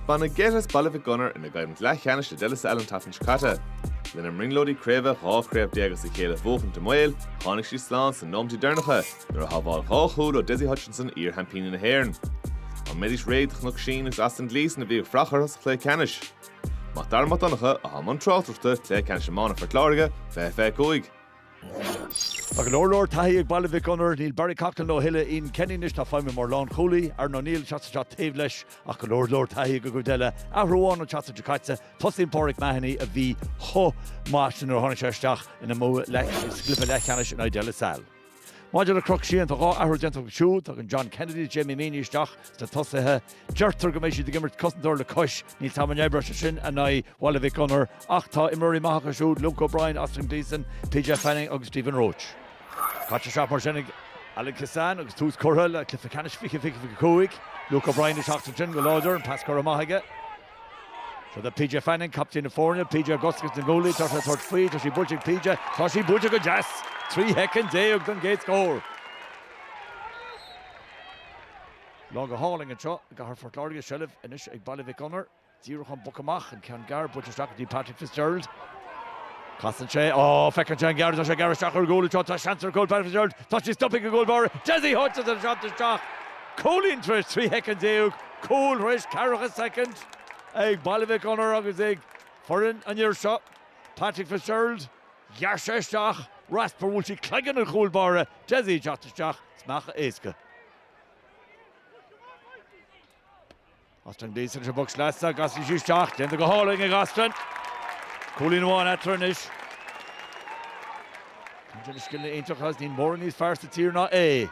Baineadh geit as Baile Mhic Gonair ina gcoimhlint leathcheannais le De La Salle an tseachtain seo caite. Lena mbrionglóidí craoibhe dhá chraobh déag as a chéile a bhuachaint i mbaol, tháinig siad slán sna nóimintí deireanacha nuair a shábháil dhá chúl ó Dessie Hutchinson iar-sheaimpíní na hÉireann. An mbeidís réidh do Chnoc Síon agus Austin Gleeson a bhí ag fuireach orthu sa chluiche ceannais? Mac Dara Mac Donncha, atá i mbun tráchtaireachta, Cluiche Ceannais Iomána Phort Láirge, 2025. Tá go leor leor taithí ag Baile Mhic Gonair. Níl Barry Coughlan leo a thuilleadh, Ian Kenny anois atá ag feidhmiú mar lánchúlaí. Aaron O'Neill ag teacht isteach taobh leis ach go leor leor taithí ag an gcuid eile. Athrú amháin an tseachtain seo caite, tosaíonn Pauric Mahony a bhí chomh maith sin nuair a tháinig sé isteach ina mbua sa gcluiche leathcheannais in aghaidh De La Salle. Maidir le Cnoc Síon, tá dhá athrú déanta acu siúd, tagann John Kennedy is Jamie Meaney isteach sna tosaithe, Deirtear go mbeidh siad ag imirt cosantóir le cois. Níl a fhios agam an oibreoidh sé sin in aghaidh Bhaile Mhic Gonair, ach tá imreoirí maithe acu siúd, Luke O'Brien, Austin Gleeson, PJ Fanning agus Stephen Roche. Caite isteach mar sin ag Alan Kissane agus tús curtha le cluiche ceannais 2025. Luke O'Brien ag teacht ansin go láidir, an pas curtha amach aige. Seo do PJ Fanning, captaen na foirne, PJ i gcosc is na goalaí atá sé ag tabhairt faoi, tá sí buailte ag PJ, tá sí buailte go deas! 13 shoicind don gcéad scór. Lá go hálainn anseo i gCathair Phort Láirge, seilbh anois ag Baile Mhic Gonair. Díreach ón bpoc amach, an ceann gearr, buailte isteach go dtí Patrick Fitzgerald. Casann sé, á, feiceann sé an ghearr, tá sé ag gearradh isteach ar an gcúl anseo, tá seans ar an gcúl, Patrick Fitzgerald, tá sí stoptha ag an gcúl báire, Dessie Hutchinson ar an seans isteach, cúilín tar éis 13 shoicind, cúl tar éis 40 soicind ag Baile Mhic Gonair agus ag foireann an fhir seo, Patrick Fitzgerald. Ghearr sé isteach, Rasper, bhuail sí cloigeann an chúil báire, Dessie ag teacht isteach, smeachadh éasca. Austin Gleeson sa bpoc sleasa, casann sí isteach, déanta go hálainn ag Austin. Cúilín amháin eatarthu anois. Caint ar na scileanna iontach agus níl mórán níos fearr sa tír ná é.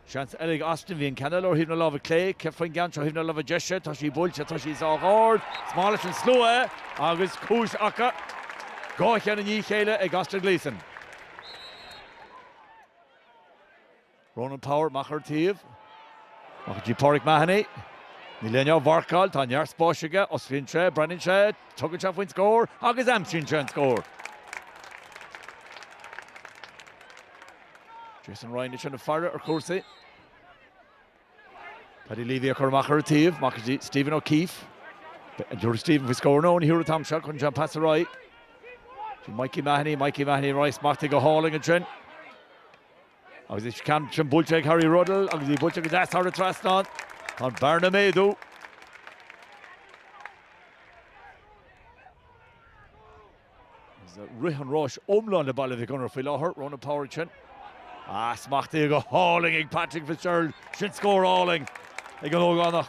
Seans eile ag Austin, bhí an ceann eile ó thaobh na láimhe clé, céard faoin gceann seo ó thaobh na láimhe deise, tá sí buailte, tá sí sách ard, is maith leis an slua é agus cúis acu dhá cheann i ndiaidh a chéile ag Austin Gleeson. Ronan Power amach ar an taobh. Amach go dtí Pauric Mahony. Níl éinne á mharcáil. Tá neart spáis aige. Osclaíonn sé, breathnaíonn sé, tugann sé faoin scór agus aimsíonn sé an scór. Jason Ryan ansin ag faire ar chúrsaí. Paddy Leavey ag cur amach ar an taobh, amach chuig Stephen O'Keefe. An dtabharfaidh Stephen faoi scór? No, ní thabharfaidh an t-am seo, cuireann sé an pas ar aghaidh go Mikey Mahony, Mikey Mahony tar éis smachtú go hálainn ansin. Agus an ceann sin buailte ag Harry Ruddle agus í buailte go deas thar an trasnán. Tá an bhearna ag méadú. Rith an ráis iomlán le Baile Mhic Gonair faoi láthair, Ronan Power ansin. Ah, smachtaithe go hálainn ag Patrick Fitzgerald, sin scór álainn ag an ógánach.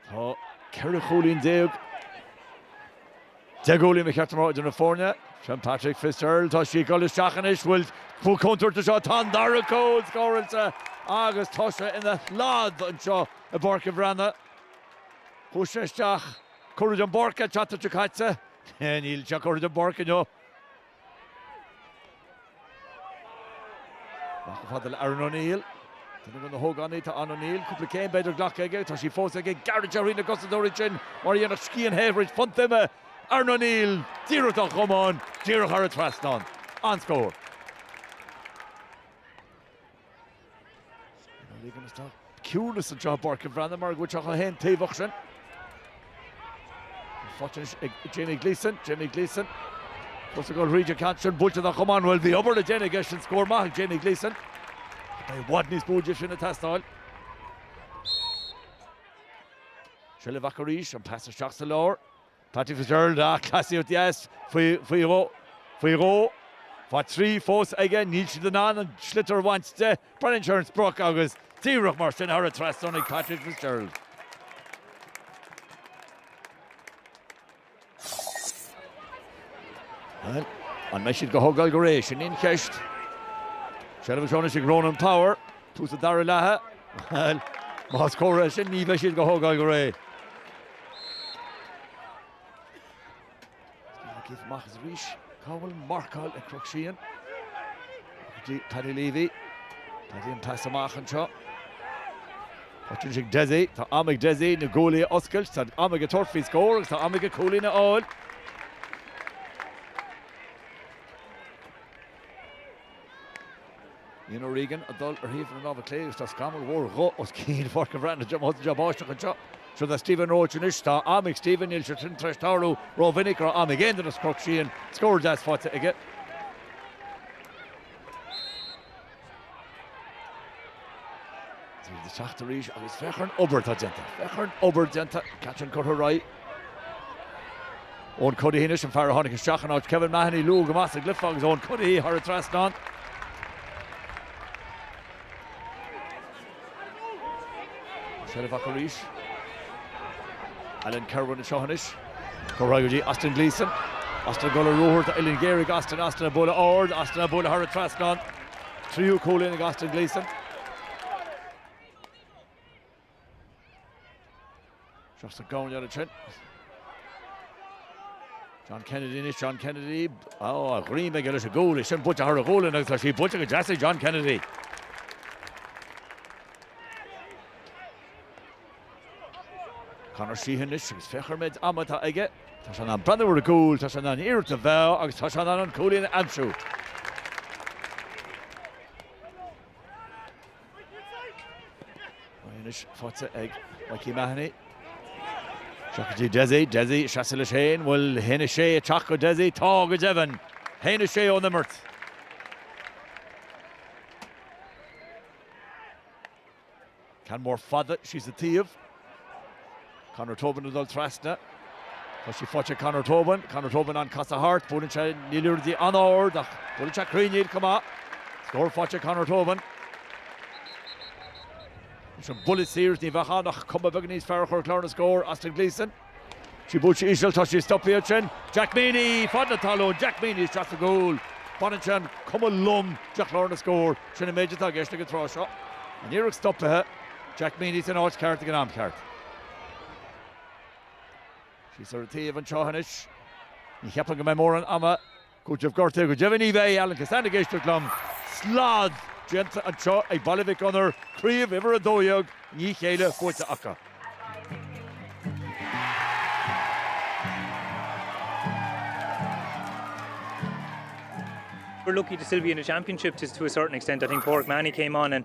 Tá ceithre chúilín déag. 10 gcúilín a chleacht an lá idir na foirne. Sin Patrick Fitzgerald, tá sí ag dul isteach anois, bhuel, an bhfuil contúirt anseo, tá an dara cúl scóráilte agus tá sé ina shlad anseo i bPáirc an Bhreathnaigh. Chuaigh sé isteach, curtha den bpáirc an tseachtain seo caite, níl sé curtha den bpáirc inniu. Amach go fada le Aaron O'Neill. Duine de na hógánaigh atá ann O'Neill, cúpla céim b'fhéidir glactha aige, tá sí fós aige, gearradh tríd na gcosantóirí sin mar a dhéanfadh scian the thríd phunt ime, Aaron O'Neill díreach dá chamán, díreach thar an trasnán. An-scór. Leaving us now ciúnas anseo i bPáirc an Bhreathnaigh mar go bhfuil sé chomh haontaobhach sin. Faighte ag Jamie Gleeson, Jamie Gleeson. Agus ag dul thríd an ceann sin, buailte dá chamán, bhuel bhí obair le déanamh aige sin, scór maith ag Jamie Gleeson. Beidh i bhfad níos mó de sin ag teastáil. Seilbh acu arís, an pas isteach sa lár. Patrick Fitzgerald ag casadh ó dheas faoi dhó. Faoi dhó. Fá thrí fós aige. Níl siad in ann an sliotar a bhaint de. Baineann sé an sprioc agus díreach mar sin thar an trasnán ag Patrick Fitzgerald. An mbeidh siad dhá thógáil go réidh? Sin í an cheist. Seilbh anseo anois ag Ronan Power. Tús an dara leatha. Más comhartha é sin ní bheidh siad dhá thógáil go réidh. Tá Keith amach as arís. Cá bhfuil marcáil ag Cnoc Síon? Go dtí Paddy Leavey. Paddy an pas amach anseo. Faighte ag Dessie. Tá am ag Dessie na guaillí a oscailt. Tá am aige tabhairt faoi scór agus tá am aige cúilín a fháil. Ian O'Regan ag dul ar thaobh na láimhe clé agus tá scamall mhór dhubh os cionn Pháirc an Bhreathnaigh. Diomaite den bháisteach anseo, seo do Stephen Roche anois. Tá am ag Stephen, níl sé sin tar éis tarlú rómhinic go raibh am ag aon duine as Cnoc Síon, scór deas faighte aige. Ag teacht arís agus féach ar an obair atá déanta, féach ar an obair déanta, an ceann sin curtha ar aghaidh. Eoin Cuddihy anois an fear a tháinig isteach in áit Kevin Mahony, luath go maith sa gcluiche agus Eoin Cuddihy thar an trasnán. Seilbh acu arís. Alan Kirwan anseo anois. Curtha go dtí Austin Gleeson. Austin ag dul ar ruathar, tá uillinn ghéar ag Austin, Austin á bualadh ard, Austin á bualadh thar an trasnán. Tríú cúilín ag Austin Gleeson. Seo sa gcóin orthu sin. John Kennedy anois, John Kennedy, á, a dhroim aige leis an gcúl, é sin buailte thar a ghualainn agus tá sí buailte go deas ag John Kennedy. Conor Sheehan anois agus féach an méid ama atá aige. Tá sé in ann breathnú ar an gcúl, tá sé in ann an iarracht a mheá agus tá sé in ann an cúilín a aimsiú. Anois faighte ag Mikey Mahony. Isteach go dtí Dessie. Dessie, seasamh leis féin. Bhfuil a haon a sé isteach ag Dessie? Tá, go deimhin. A haon a sé ón imirt. Ceann mór fada síos an taobh. Conor Tobin ag dul trasna. Tá sí faighte ag Conor Tobin. Conor Tobin in ann casadh thart. Buaileann sé an liathróid an-ard ach buaileann sé cruinn í chomh maith. Scór faighte ag Conor Tobin. Is an buille saor seo, ní bheadh ann ach cuma beag níos fearr a chur ar chlár na scór, Austin Gleeson. Tá sí buailte íseal, tá sí stoptha ansin. Jack Meaney fad na talún, Jack Meaney isteach sa gcúl. Baineann sin an cuma lom de chlár na scór. Sin an méid atá i gceist ag an tráth seo. An iarracht stoptha, Jack Meaney san áit cheart ag an am cheart. Síos ar an taobh anseo anois. Ní cheapaim go mbeidh mórán ama. Cúitimh gortaithe go deimhin ní bheidh Alan Kissane ag éisteacht liom. Slad déanta anseo ag Baile Mhic Gonair, Craobh Uimhir 12, i ndiaidh a chéile faighte acu. We're lucky to still be in the championship to a certain extent, I think Pauric Mahony came on and